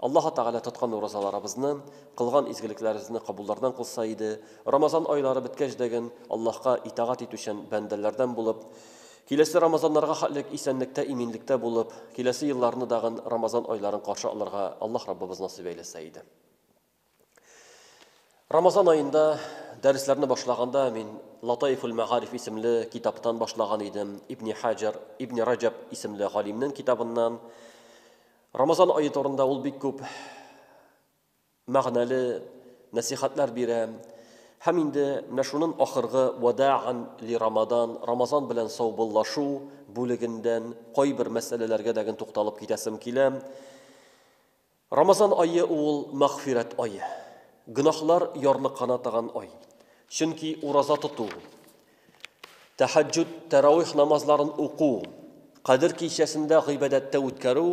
Аллаһы Тәгалә тоткан уразаларыбызны, кылган изгелекләребезне кабуллардан кылса иде, Рамазан айлары беткәч дәген Аллаһка итагать итүчән бәндәләрдән булып, киләсе Рамазаннарга хәтлек исәнлектә, иминлектә булып, киләсе елларны дагын Рамазан айларын каршы алырга Аллаһ Раббыбыз насыйп әйләсә иде. Рамазан аенда дәресләрне башлаганда мин Латаифул Мәгариф исемле китаптан башлаган идем. Ибни Хаҗар, Ибни Раҗаб исемле галимнең китабыннан. Рамазан ае турында ул бик күп мәгънәле нәсихәтләр бирә. Һәм инде менә шунын ахыргы Вадаган ли Рамадан, Рамазан белән саубуллашу бүлегендән кайбер мәсьәләләргә дәген тукталып китәсем килә. Рамазан ае ул мәгъфирәт ае, гөнаһлар ярлыкана таган ай. Чөнки ураза тоту, тәһәҗҗүд, тәравих намазларын уку, Кадер кичәсендә гыйбадәттә үткәрү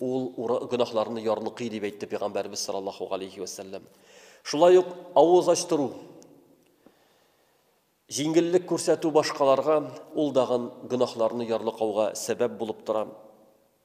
ул гөнаһларны ярлыкый, дип әйтте Пәйгамбәребез саллаллаһу галәйһи вә сәлләм. Шулай ук авыз ачтыру, җиңеллек күрсәтү башкаларга ул дагын гөнаһларны ярлыкауга сәбәп булып тора.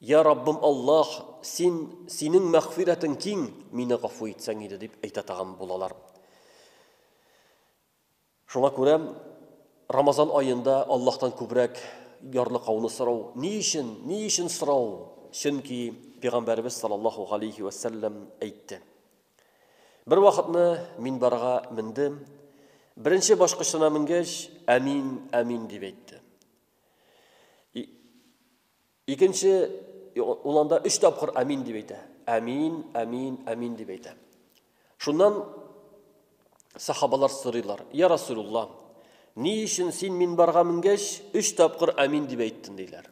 Йа Раббым Аллаһ, Син, Синең мәгъфирәтең киң, мине гафу итсәң иде, дип әйтә тагын булалар. Шуңа күрә Рамазан аенда Аллаһтан күбрәк ярлыкауны сорау. Ни өчен? Ни өчен сорау? Чөнки Пәйгамбәребез саллаллаһу галәйһи вә сәлләм әйтте. Бер вакытны мин барга мендем. Беренче башкычына менгәч, әмин, әмин дип әйтте. Икенче, ул анда өч тапкыр амин дип әйтә. Амин, амин, амин дип әйтә. Шуннан сахабалар сорыйлар, я Расулулла, ни өчен син мин барга менгәч, өч тапкыр амин дип әйттен, диләр.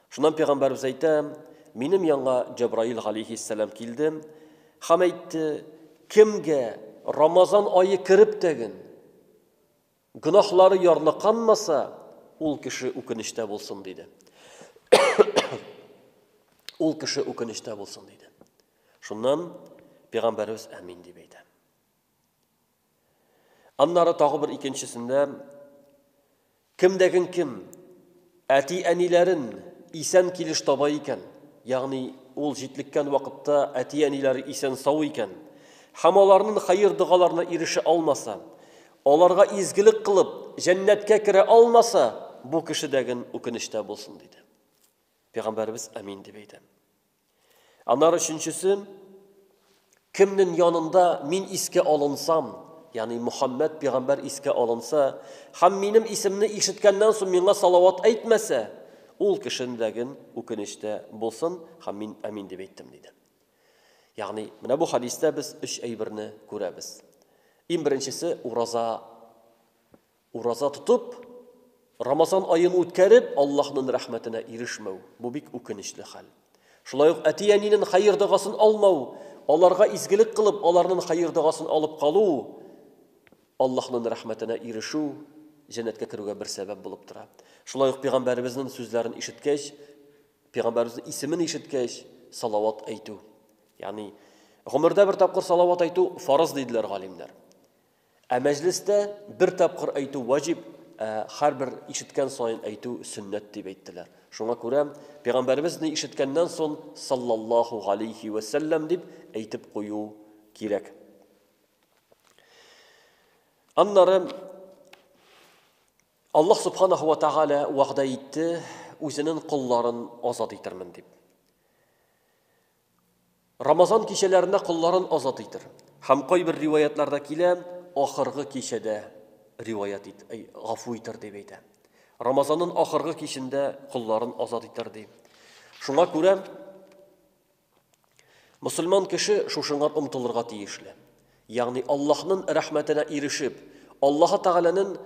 Шуннан пәйгамбәрбез әйтә, минем янга Җабраил галейхиссәлам килде һәм әйтте, кемгә Рамазан айы кереп тәген Гөнаһлары ярлыканмаса, ул кеше үкенечтә булсын, диде. Ул кеше үкенечтә булсын, диде. Шуннан пәйгамбәребез әмин дип әйтә. Аннары тагы бер икенчесендә кемдәген кем Әти-әниләрен исән килеш таба икән, ягъни ул җитлеккән вакытта әти-әниләре исән-сау икән, һәм аларнын хәер-догаларына ирешә алмаса, аларга изгелек кылып, җәннәткә керә алмаса, бу кешедәген үкенечтә булсын, диде. Пәйгамбәребез, Амин, дип әйтә. Аннары өченчесе, кемнең янында мин искә алынсам, ягъни Мөхәммәд пигамбәр искә алынса һәм минем исемне ишеткәннән соң миңа салават әйтмәсә, ул кешенең дәген үкенечтә булсын һәм мин амин дип әйттем диде. Ягъни, менә бу хадистә без өч әйберне күрәбез. Иң беренчесе ураза Ураза тотып, Рамазан аен үткәреп, Аллаһның рәхмәтенә ирешмәү, бу бик үкенечле хәл. Шулай ук әти-әнинең хәер догасын алмау, аларга изгелек кылып, аларның хәер догасын алып калу, Аллаһның рәхмәтенә ирешү, җәннәткә керүгә бер сәбәп булып тора. Шулай ук пәйгамбәребезнең сүзләрен ишеткәч, пәйгамбәребезнең исемен ишеткәч, салават әйтү. Ягъни, гомердә бер тапкыр салават әйтү фарыз диделәр галимнәр. Ә мәҗлестә бер тапкыр әйтү ваҗиб, ә һәрбер ишеткән саен әйтү сөннәт дип әйттеләр. Шуңа күрә Пәйгамбәребез ни ишеткәннән сон саллаллаһу галәйһи вә сәлләм дип әйтеп кую кирәк. Аннары Аллаһ субханаһу ва тагәлә вәгъдә итте, үзенең колларын азат итермен дип. Рамазан кичәләрендә колларын азат итер. Һәм кайбер риваятьләрдә килә, ахыргы кичәдә риваять ит, әй, гафу итер дип әйтә. Рамазанның ахыргы кичендә колларын азат итер ди. Шуңа күрә мусульман кеше шушыңа омтылырга тиешле. Ягъни Аллаһның рәхмәтенә ирешеп, Аллаһы Тәгаләнең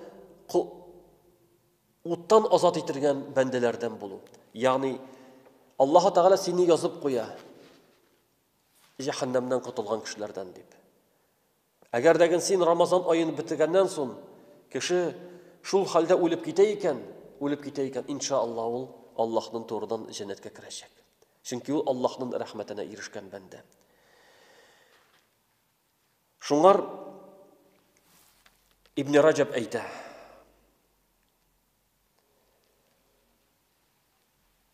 Уттан азат ителгән бәндәләрдән булу. Ягъни, Аллаһы Тәгалә сине язып куя, җәһәннәмнән котылган кешеләрдән дип. Әгәр дә гел син Рамазан аен бетергәннән соң кеше шул хәлдә үлеп китә икән, үлеп китә икән, иншаалла ул Аллаһның турыдан җәннәткә керәчәк. Чөнки ул Аллаһның рәхмәтенә ирешкән бәндә. Шуңар Ибн Раҗаб әйтә.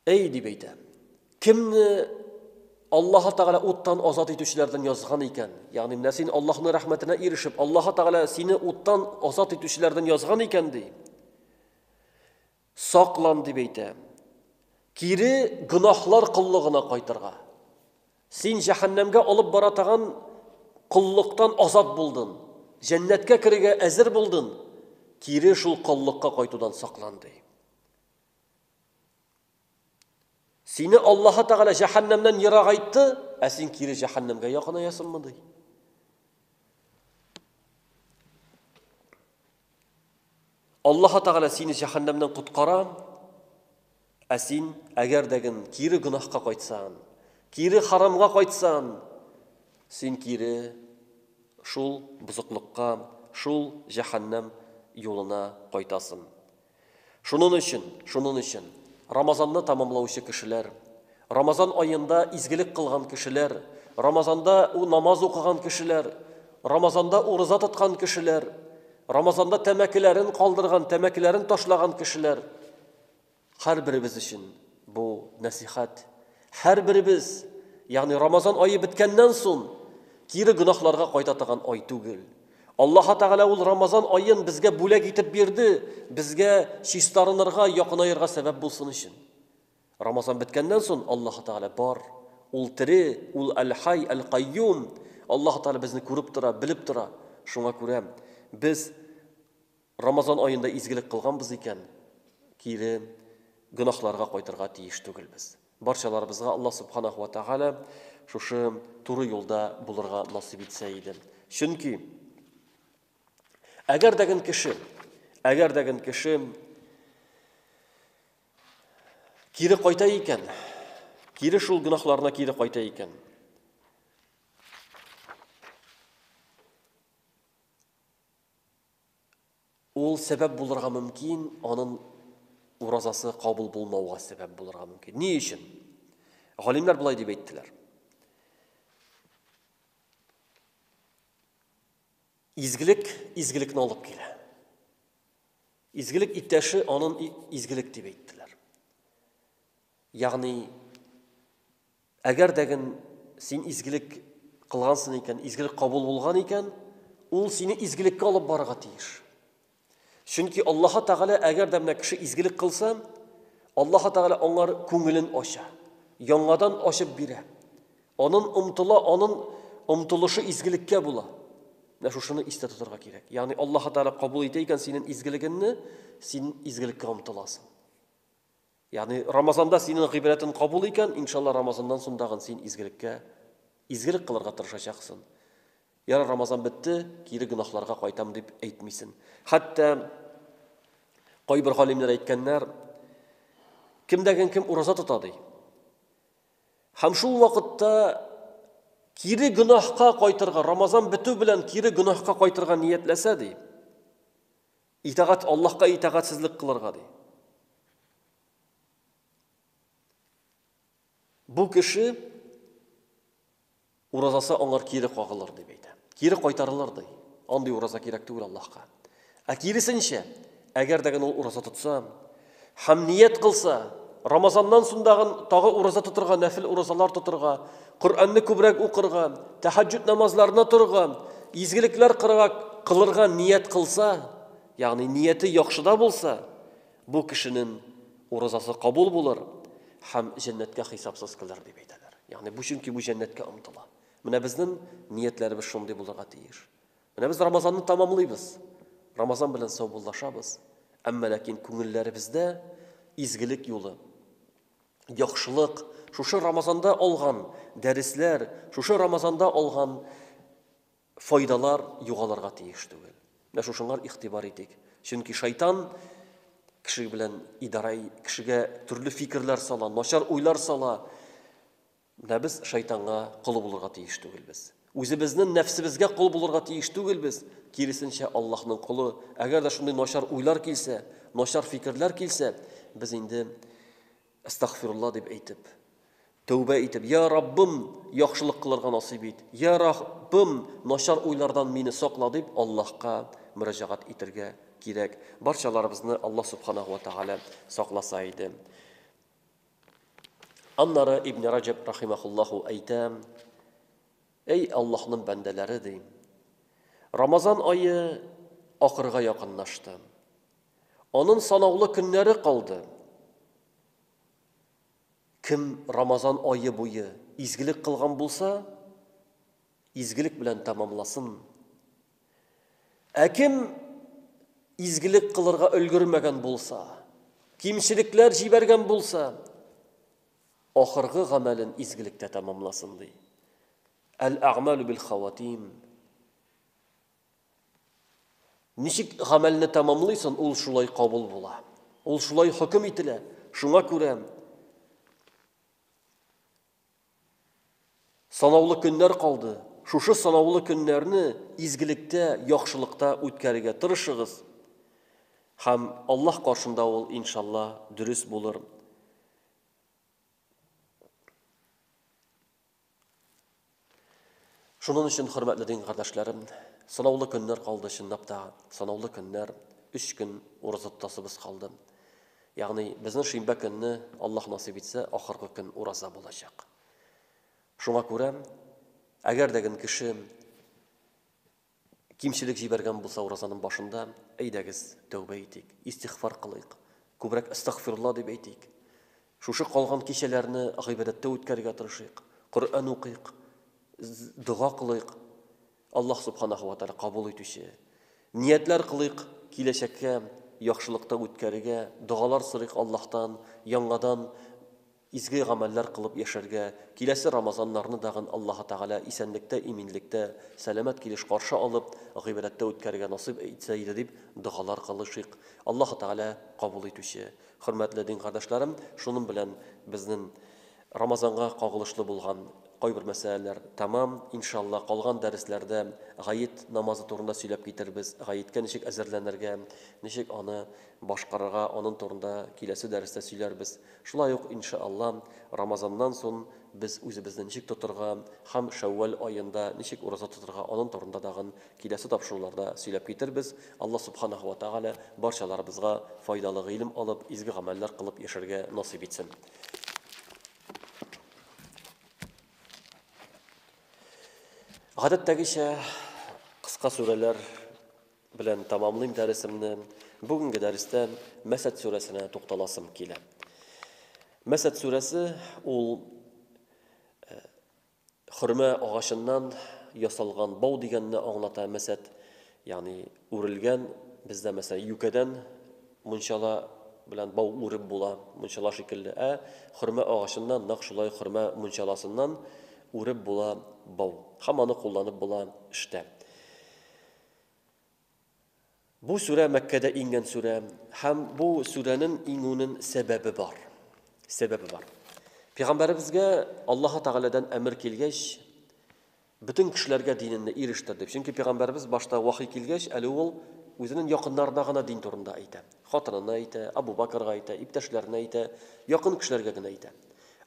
Әй дип әйтә. Кемне Аллаһ Тәгалә уттан азат итүчеләрдән язган икән, ягъни менә син Аллаһның рәхмәтенә ирешеп, Аллаһ Тәгалә сине уттан азат итүчеләрдән язган икән ди. Саклан, дип әйтә. Кире гөнаһлар коллыгына кайтырга. Син җәһәннәмгә алып бара торган коллыктан азат булдың. Җәннәткә керергә әзер булдың. Кире шул коллыкка кайтудан саклан, ди. Сине Аллаһ Тәгалә җәһәннәмнән ерагайтты, ә син кире җәһәннәмгә якынаясыңмы ди? Аллаһы Тәгалә сине җәһәннәмнән коткара, ә син әгәр дәген кире гөнаһка кайтсаң, кире харамга кайтсаң, син кире шул бузыклыкка, шул җәһәннәм юлына кайтасың. Шунын өчен, шунын өчен, Рамазанны тамамлаучы кешеләр, Рамазан аенда изгелек кылган кешеләр, Рамазанда у намаз укыган кешеләр, Рамазанда урыза тоткан кешеләр, Рамазанда тәмәкеләрен калдырган, тәмәкеләрен ташлаган кешеләр, хәрберебез өчен, Бу нәсыйхәт һәрберебез, ягъни Рамазан ае беткәннән соң, кире гөнаһларга кайта торган ай түгел. Аллаһ Тәгалә ул Рамазан аен безгә бүләк итеп бирде, безгә чистарынырга, якынаерга сәбәп булсын өчен. Рамазан беткәннән соң Аллаһ Тәгалә бар, ул тере, ул Әл-Хай, Әл-Кайюм. Аллаһ Тәгалә безне күреп тора, белеп тора. Шуңа күрә без Рамазан аенда изгелек кылганбыз икән, кире гөнаһларга кайтырга тиеш түгелбез. Барчаларыбызга Аллаһ Субханаһу ва Тәгалә шушы туры юлда булырга насыйп итсә иде. Чөнки әгәр дә гын кеше, әгәр дә гын кеше кире кайта икән, кире шул гөнаһларына кире кайта икән, Ул сәбәп булырга мөмкин, анын уразасы кабул булмауга сәбәп булырга мөмкин. Ни өчен? Галимнәр болай дип әйттеләр. Изгелек изгелекне алып килә. Изгелек иптәше анын изгелек дип әйттеләр. Ягъни Әгәр дә ген син изгелек кылгансың икән, изгелек кабул булган икән, ул сине изгелеккә алып барырга тиеш. Чөнки Аллаһы Тәгалә әгәр дә менә кеше изгелек кылса, Аллаһы Тәгалә аңар күңелен ача, яңадан ачып бирә. Анын омтыла, анын омтылышы изгелеккә була. Менә шушыны истә тотарга кирәк. Ягъни Аллаһы Тәгалә кабул итә икән синең изгелегеңне, син изгелеккә омтыласың. Ягъни Рамазанда синең гыйбрәтен кабул икән, иншалла Рамазаннан соң дагын син изгелеккә, изгелек кылырга тырышачаксын. Яра Рамазан бетте, кире гөнаһларга кайтам дип әйтмисен. Хәтта кайбер галимнәр әйткәннәр, кемдәген кем ураза тота ди. Һәм шул вакытта кире гөнаһка кайтырга, Рамазан бетү белән кире гөнаһка кайтырга ниятләсә ди. Итагать Аллаһка итагатьсезлек кылырга ди. Бу кеше уразасы аңар кире кагылыр дип әйтә. Кире кайтарылыр ди. Андый ураза кирәк түгел Аллаһка. Ә киресенчә, әгәр дә генә ул ураза тотса, Һәм ният кылса, Рамазаннан соң дагын тагы ураза тотырга, нәфил уразалар тотырга, Коръәнне күбрәк укырга, тәһаҗҗүд намазларына торырга, изгелекләр кырга, кылырга ният кылса, ягъни нияте яхшыда булса, бу кешенең уразасы кабул булыр һәм җәннәткә хисапсыз килер дип әйтәләр. Ягъни бу чөнки бу җәннәткә омтыла. Менә безнең ниятләребез шундый булырга тиеш. Менә без Рамазанны тәмамлыйбыз, Рамазан белән саубуллашабыз, әмма ләкин күңелләребездә изгелек юлы, яхшылык, шушы Рамазанда алган дәресләр, шушы Рамазанда алган файдалар югалырга тиеш түгел. Менә шушыңар игътибар итик. Чөнки шайтан кеше белән идарә, кешегә төрле фикерләр сала, начар уйлар сала. Менә без шайтанга кол булырга тиеш түгелбез. Үзебезнен нәфсебезгә кол булырга тиеш түгелбез, киресенчә Аллаһның колы. Әгәр дә шундый начар уйлар килсә, начар фикерләр килсә, без инде Астагфирулла дип әйтеп, тәүбә итеп, я Раббым, яхшылык кылырга насыйп ит. Я Раббым, начар уйлардан мине сакла дип Аллаһка мөрәҗәгать итергә кирәк. Барчаларыбызны Аллаһ Субханаху ва Тааля сакласа иде. Аннары Ибне Раҗәб рахимахуллаһу әйтә, Әй Аллаһның бәндәләре, ди. Рамазан ае ахырга якынлашты. Анын санаулы көннәре калды. Кем Рамазан ае буе изгелек кылган булса, Изгелек белән тәмамласын. Ә кем изгелек кылырга өлгермәгән булса, кимчелекләр җибәргән булса, ахыргы гамәлен изгелектә тәмамласын ди. Әл-әгмәлу бил хаватим. Ничек гамәлне тәмамлыйсын, ул шулай кабул була. Ул шулай хөкем ителә. Шуңа күрә Санаулы көннәр калды. Шушы санаулы көннәрне изгелектә, яхшылыкта үткәрергә тырышыгыз. Һәм Аллаһ каршында ул, иншалла, дөрес булыр. Шуның өчен, хөрмәтле дин кардәшләрем, санаулы көннәр калды, чынлап та, санаулы көннәр, өч көн ураза тотасыбыз калды. Ягъни, безнең шимбә көнне, Аллаһ насыйп итсә, ахыргы көн ураза булачак. Шуңа күрә, әгәр дә кеше Кимчелек җибәргән булса уразаның башында, әйдәгез, тәүбә итик, истигъфар кылыйк, күбрәк әстәгъфирулла дип әйтик. Шушы калган кичәләрне гыйбадәттә үткәрергә тырышыйк, Коръән укыйк, дога кылыйк. Аллаһ Субханаһу ва Тааля кабул итүче. Ниятләр кылыйк киләчәккә яхшылыкта үткәрергә, догалар сорыйк Аллаһтан, яңадан Изге гамәлләр кылып яшәргә, киләсе Рамазаннарны дагын Аллаһы Тәгалә исәнлектә, иминлектә, сәламәт килеш каршы алып, гыйбрәттә үткәрергә насыйп итсә иде дип догалар кылышыйк. Аллаһы Тәгалә кабул итүче. Хөрмәтле дин кардәшләрем, шуның белән безнен Рамазанга кагылышлы булган кайбер мәсьәләләр тәмам. Иншалла, калган дәресләрдә гает намазы турында сөйләп китербез, гаеткә ничек әзерләнергә, ничек аны башкарырга, анын турында киләсе дәрестә сөйләрбез. Шулай ук, инша Алла, Рамазаннан сон без үзебезне ничек тотырга һәм Шәүвәл аенда ничек ураза тотырга анын турында дагын киләсе тапшыруларда сөйләп китербез. Алла Субханаһу ва Тәгалә барчаларыбызга файдалы гыйлем алып, изге гамәлләр кылып яшәргә насыйп итсен. Гадәттәгечә, кыска сүрәләр Белән тәмамлыйм дәресемне. Бүгенге дәрестә Мәсәд сүрәсенә тукталасым килә. Мәсәд сүрәсе ул э, хөрмә агачыннан ясалган бау дигәнне аңлата мәсәд, ягъни үрелгән, бездә мәсәлән юкәдән мунчала белән бау үреп була, мунчала шикелле. Ә хөрмә агачыннан нәкъ шулай хөрмә мунчаласыннан үреп була бау. Һәм аны кулланып була эштә. Бу сүрә Мәккәдә иңгән сүрә һәм бу сүрәнен иңүнен сәбәбе бар. Сәбәбе бар. Пәйгамбәребезгә Аллаһы Тәгаләдән әмер килгәч, бөтен кешеләргә диненне ирештер дип. Чөнки пәйгамбәребез башта вахи килгәч, әле ул үзенең якыннарына гына дин турында әйтә. Хатынына әйтә, Абу Бакырга әйтә, иптәшләренә әйтә, якын кешеләргә генә әйтә.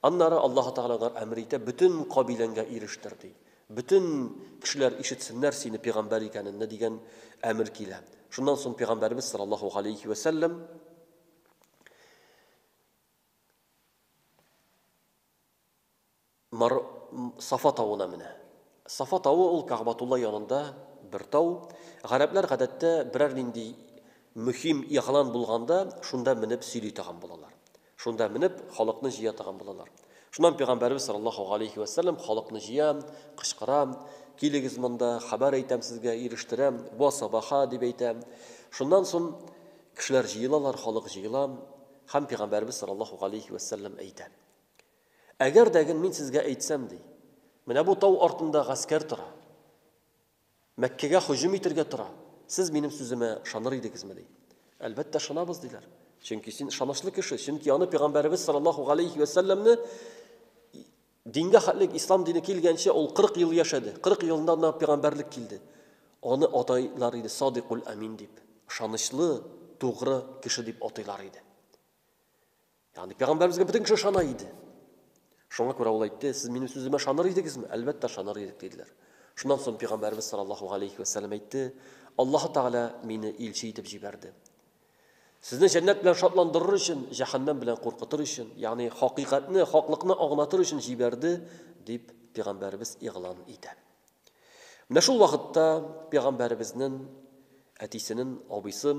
Аннары Аллаһы Тәгалә алар әмер итә, бөтен кабиләңгә ирештер ди. Бөтен кешеләр ишетсеннәр сине пигамбәр икәненне дигән әмер килә. Шуннан соң пигамбәребез саллаллаһу галәйһи вә сәлләм Мар Сафа тавына менә. Сафа тавы ул Кагъбатулла янында бер тау. Гарәпләр гадәттә берәр нинди мөһим игълан булганда шунда менеп сөйли торган булалар. Шунда менеп, халыкны җыя торган булалар. Шуннан пәйгамбәребез саллаллаһу галәйһи вә сәлләм халыкны җыя, кычкыра, Килегез монда, хәбәр әйтәм сезгә, ирештерәм, Ва сабаха! дип әйтә. Шуннан сон кешеләр җыелалар, халык җыела һәм пәйгамбәребез саллаллаһу галәйһи вә сәлләм әйтә. Әгәр дә ген мин сезгә әйтсәм, ди, менә бу тау артында гаскәр тора. Мәккәгә һөҗүм итәргә тора. Сез минем сүземә ышаныр идегезме? ди. Әлбәттә, ышанабыз, диләр. Чөнки син ышанычлы кеше, чөнки аны пәйгамбәребез саллаллаһу галәйһи вә сәлләмне дингә хәтле ислам дине килгәнче ул 40 ел яшәде. 40 елында гына пәйгамбәрлек килде. Аны атайлар иде Садикул Амин дип, ышанычлы, тугры кеше дип атыйлар иде. Ягъни пәйгамбәребезгә бөтен кеше ышана иде. Шуңа күрә ул әйтте, сез минем сүземә ышаныр идегезме? Әлбәттә, ышаныр идек, диделәр. Шуннан соң пәйгамбәребез саллаллаһу алейхи ва саллям әйтте, Аллаһу Тәгалә мине илче итеп җибәрде. Сезне җәннәт белән шатландырыр өчен, җәһәннәм белән куркытыр өчен, ягъни хакыйкатьне, хаклыкны аңлатыр өчен җибәрде, дип пәйгамбәребез игълан итә. Менә шул вакытта пәйгамбәребезнең әтисенең абыйсы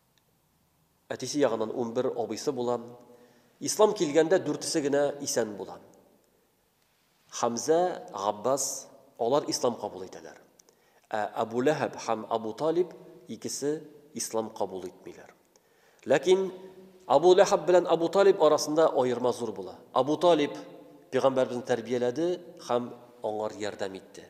Әтисе ягыннан унбер абыйсы була. Ислам килгәндә дүртесе генә исән була. Хәмзә, Габбас, алар ислам кабул итәләр. Ә Әбу Ләһәб һәм Әбу Талиб икесе ислам кабул итмиләр. Ләкин Әбу Ләһәб белән Әбу Талиб арасында аерма зур була. Әбу Талиб пигамбәрбезне тәрбияләде һәм аңар ярдәм итте.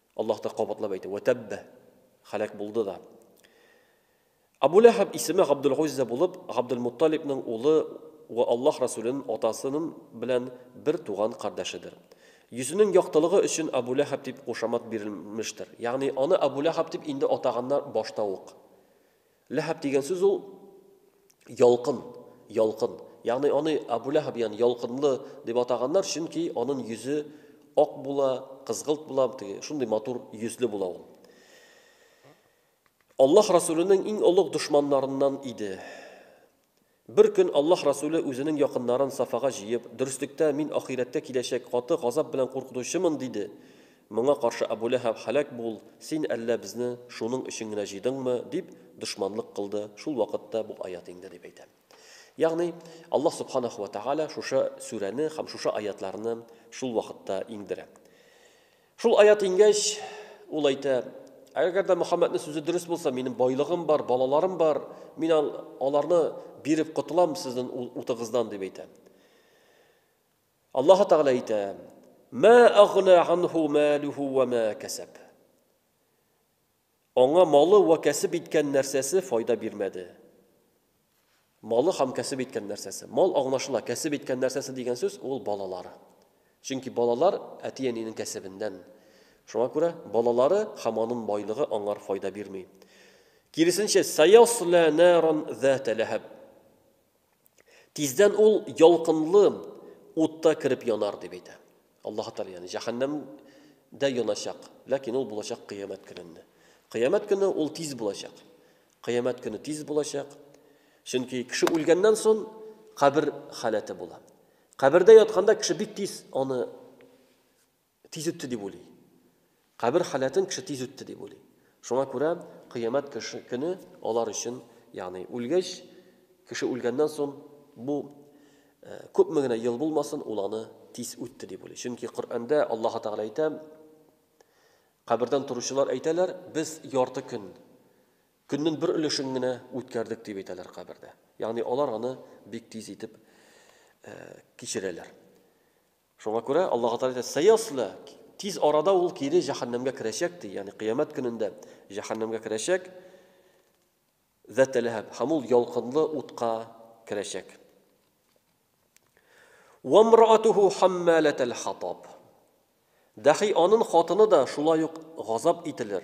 Аллаһ та кабатлап әйтә, Вә тәббә, хәләк булды да. Абу Ләхәб исеме Габдул-Гуззә булып, Габдул-Мутталибның улы вә Аллаһ Расүленең атасының белән бер туган кардәшедер. Йөзенең яктылыгы өчен Абу Ләхәб дип кушамат бирелмештер. Ягъни аны Абу Ләхәб дип инде атаганнар башта ук. Ләһаб дигән сүз ул ялкын, ялкын. Ягъни аны Абу Ләһаб ягъни ялкынлы дип атаганнар, чөнки аның йөзе ак була, кызгылт була, шундый матур йөзле була ул. Аллаһ Расүленең иң олуг дошманнарыннан иде. Бер көн Аллаһ Расүле үзенең якыннарын Сафага җыеп, Дөреслектә мин ахирәттә киләчәк каты газап белән куркытучымын, диде. Моңа каршы Әбү Ләһәб һәлак бул, син әллә безне шуның өчен генә җыйдыңмы, дип дошманлык кылды, шул вакытта бу аять инде, дип әйтә. Ягъни, Аллаһ Субханаһу вә Тәгалә шушы сүрәне һәм шушы аятларны шул вакытта иңдерә. Шул аят иңгәч, ул әйтә, Әгәр дә Мөхәммәднең сүзе дөрес булса, минем байлыгым бар, балаларым бар, мин аларны биреп котылам сезнең утыгыздан дип әйтә. Аллаһ Тәгалә әйтә, Ма агна анху малуху ва ма касаб. Аңа малы вә кәсеп иткән нәрсәсе файда бирмәде. Малы һәм кәсеп иткән нәрсәсе. Мал аңлашыла, кәсеп иткән нәрсәсе дигән сүз ул балалары. Чөнки балалар әти-әнинең кәсебеннән. Шуңа күрә балалары һәм аның байлыгы аңар файда бирми. Киресенчә, сәяслә нәран зәтә ләһәб. Тиздән ул ялкынлы утта кереп янар, дип әйтә. Аллаһ Тәгалә, ягъни җәһәннәм дә яначак, ләкин ул булачак кыямәт көнендә. Кыямәт көне ул тиз булачак. Кыямәт көне тиз булачак. Чөнки кеше үлгәннән соң кабер халәте була. Кабердә ятканда кеше бик тиз аны Тиз үтте дип уйлый. Кабер халәтен кеше тиз үтте дип уйлый. Шуңа күрә Кыямәт көне алар өчен, ягъни үлгәч, кеше үлгәннән соң, бу күпме генә ел булмасын, ул аны тиз үтте дип уйлый. Чөнки Коръәндә Аллаһы Тәгалә әйтә, кабердән торучылар әйтәләр, без ярты көн, көннең бер өлешен генә үткәрдек дип әйтәләр кабердә. Ягъни алар аны бик тиз итеп кичерәләр. Шуңа күрә Аллаһы Тәгалә әйтә, Сәяслә, тиз арада ул кире җәһәннәмгә керәчәк, ди, ягъни кыямәт көнендә җәһәннәмгә керәчәк, Зәтә Ләһәб, һәм ул ялкынлы утка керәчәк. Ва мраатуху хаммалатал хатаб. Дәхи анын хатыны да шулай ук газап ителер.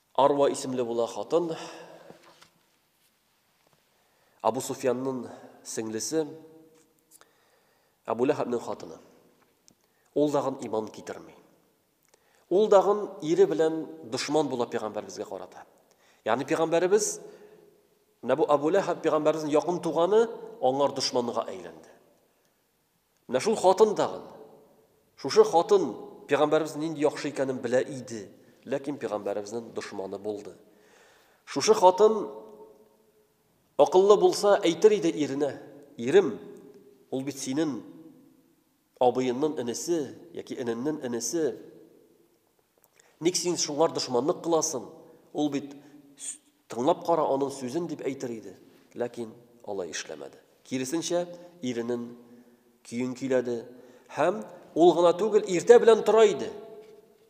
Арва исемле була хатын. Абу Суфьянның сеңлесе, Абу Ләхәбнең хатыны. Ул дагын иман китерми. Ул дагын ире белән дошман була пәйгамбәребезгә карата. Ягъни пәйгамбәребез менә бу Абу Ләхәб пәйгамбәребезнең якын туганы аңар дошманга әйләнде. Менә шул хатын тагын. Шушы хатын пигамбәребезнең нинди яхшы икәнен белә иде, ләкин пигамбәребезнең дошманы булды. Шушы хатын акыллы булса, әйтер иде иренә, ирем, ул бит синен абыеннын энесе яки эненнен энесе, Ник син шуңар дошманлык кыласың? Ул бит тыңлап кара аның сүзен дип әйтер иде. Ләкин алай эшләмәде. Киресенчә, иренен көен көйләде һәм ул гына түгел, иртә белән тора иде.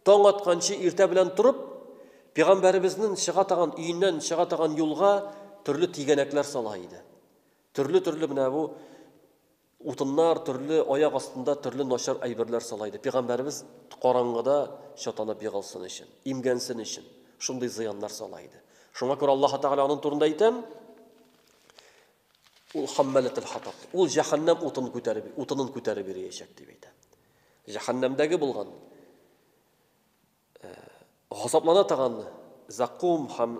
Таң атканчы иртә белән торып, пәйгамбәребезнең чыга таган өеннән чыга таган юлга төрле тигәнәкләр сала иде. Төрле-төрле менә бу Утыннар, төрле аяк астында төрле начар әйберләр сала иде. Пигамбәребез караңгыда чатанып егалсын өчен, имгәнсен өчен шундый зыяннар сала иде. Шуңа күрә Аллаһ Тәгалә аның турында әйтәм, ул хаммәләтел хатаб. Ул җәһәннәм утын күтәреп, утынын күтәреп йөриячәк дип әйтә. Җәһәннәмдәге булган газаплана торган закум һәм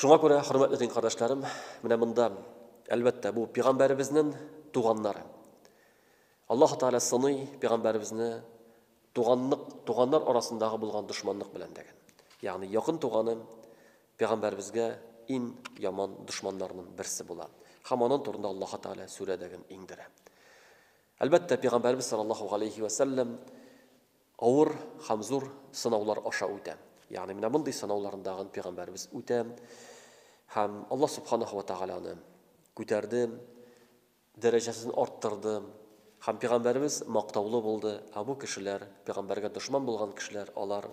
Шуңа күрә, хөрмәтле дин кардәшләрем, менә монда, әлбәттә, бу пигамбәребезнен туганнары. Аллаһу Тәгалә сыный пигамбәребезне туганлык, туганнар арасындагы булган дошманлык белән дигән. Ягъни якын туганы пигамбәребезгә ин яман дошманнарның берсе була. Һәм аның турында Аллаһу Тәгалә сүрә дигән иңдерә. Әлбәттә, пигамбәребез саллаллаһу алейхи ва саллям Авыр һәм зур сынаулар аша үтә. Ягъни менә мондый сынауларны дагын пигамбәребез үтә һәм Аллаһ Субханаһу ва Тәгаләне күтәрде, дәрәҗәсен арттырды һәм пигамбәребез мактаулы булды, ә бу кешеләр, пигамбәргә дошман булган кешеләр, алар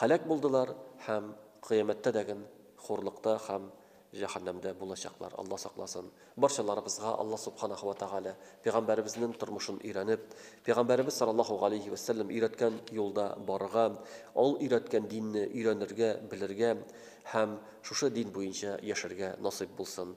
Һәлак булдылар һәм кыямәттә дәген хурлыкта һәм җәһәннәмдә булачаклар, Алла сакласын. Барчаларыбызга Алла Субханаһу вә Тәгалә пәйгамбәребезнең тормышын өйрәнеп, пәйгамбәребез саллаллаһу галәйһи вә сәлләм өйрәткән юлда барырга, ул өйрәткән динне өйрәнергә, белергә һәм шушы дин буенча яшәргә насыйп булсын.